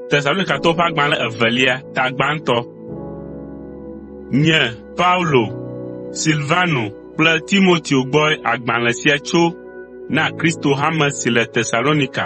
Tesalonikatɔwo ƒe agbalẽ evelia ta gbãtɔ. Nye Paulo, Silvano kple Timoteo gbɔe agbalẽ sia tso na Kristo hame si le Tesalonika,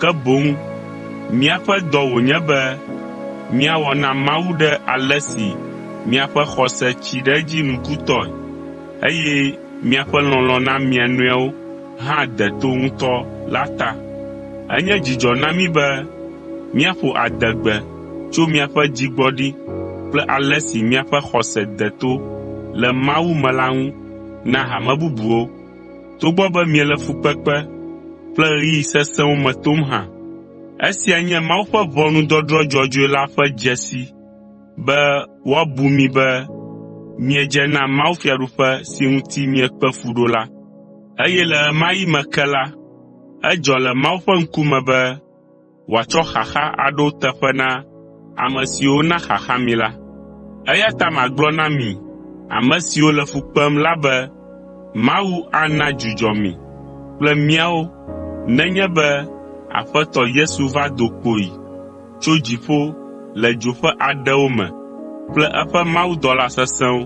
ke boŋ míaƒe dɔ wònye be míawɔ na Mawu ɖe ale si miaƒe xɔse tsi ɖe edzi nukutɔe, eye miaƒe lɔlɔ̃ na mia nɔewo hã de to ŋutɔ la ta. Enye dzidzɔ na mí be míaƒo adegbe tso miaƒe dzigbɔɖi kple ale si miaƒe xɔse de to le Mawu me la ŋu na hame bubuwo. togbɔ be miele fukpekpe kple ɣeyiɣi sesẽwo me tom hã. Esia nye Mawu ƒe ʋɔnudɔdrɔ̃ dzɔdzɔe la ƒe dzesi be woabu mi be miedze na mawufiaɖuƒe si ŋuti miekpe fu ɖo la. Eye le ɣemaɣi me ke la, edzɔ le Mawu ƒe ŋkume be wòatsɔ xaxa aɖo teƒe na ame siwo na xaxa mi la. Eya ta magblɔ na mi ame siwo le fu kpem la be Mawu ana dzudzɔ mi kple míawo nenye be Aƒetɔ Yesu va do kpoyi tso dziƒo le dzo ƒe aɖewo me kple eƒe mawudɔla sesẽwo,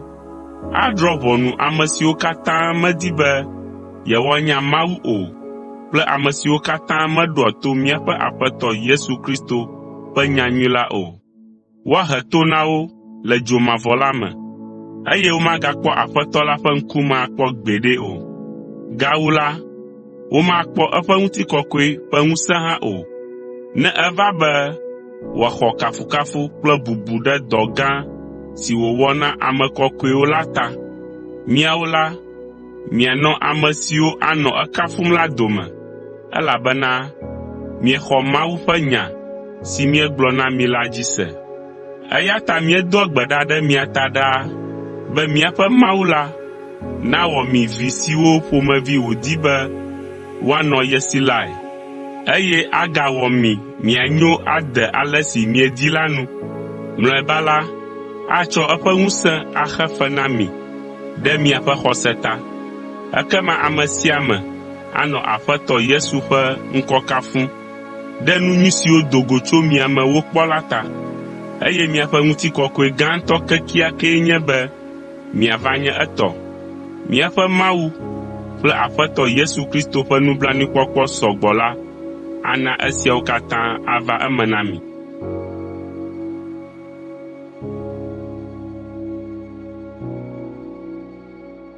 Adrɔ̃ ʋɔnu ame siwo katã medi be yewoanya Mawu o kple ame siwo katã meɖoa to míaƒe Aƒetɔ Yesu Kristo ƒe nyanyui la o. Woahe to na wo le dzo mavɔ la me, eye womagakpɔ Aƒetɔ la ƒe ŋkume akpɔ gbeɖe o. Gawu la, womakpɔ eƒe ŋutikɔkɔe ƒe ŋusẽ hã o. Ne eva be wòaxɔ kafukafu kple bubu ɖe dɔ gã si wòwɔ na ame kɔkɔewo la ta, miawo la, mianɔ ame siwo anɔ ekafum la dome, elabena miexɔ Mawu ƒe nya si míegblɔ na mi la dzi se. Eya ta míedoa gbe ɖa ɖe mia ta ɖaa be míaƒe Mawu la nawɔ mi vi siwo ƒomevi wòdi be woanɔ ye si lae, eye agawɔ mi mianyo ade ale si miedi la nu. Mlɔeba la, atsɔ eƒe ŋusẽ axe fe na mi ɖe miaƒe xɔse ta. Ekema ame sia ame anɔ Aƒetɔ Yesu ƒe ŋkɔ kafum ɖe nu nyui siwo do go tso mia me wokpɔ la ta. Eye miaƒe ŋutikɔkɔe gãtɔ kekeakee nye be miava nye etɔ. Míaƒe Mawu kple Aƒetɔ Yesu Kristo ƒe nublanuikpɔkpɔ sɔ gbɔ la ana esiawo katã ava eme na mi.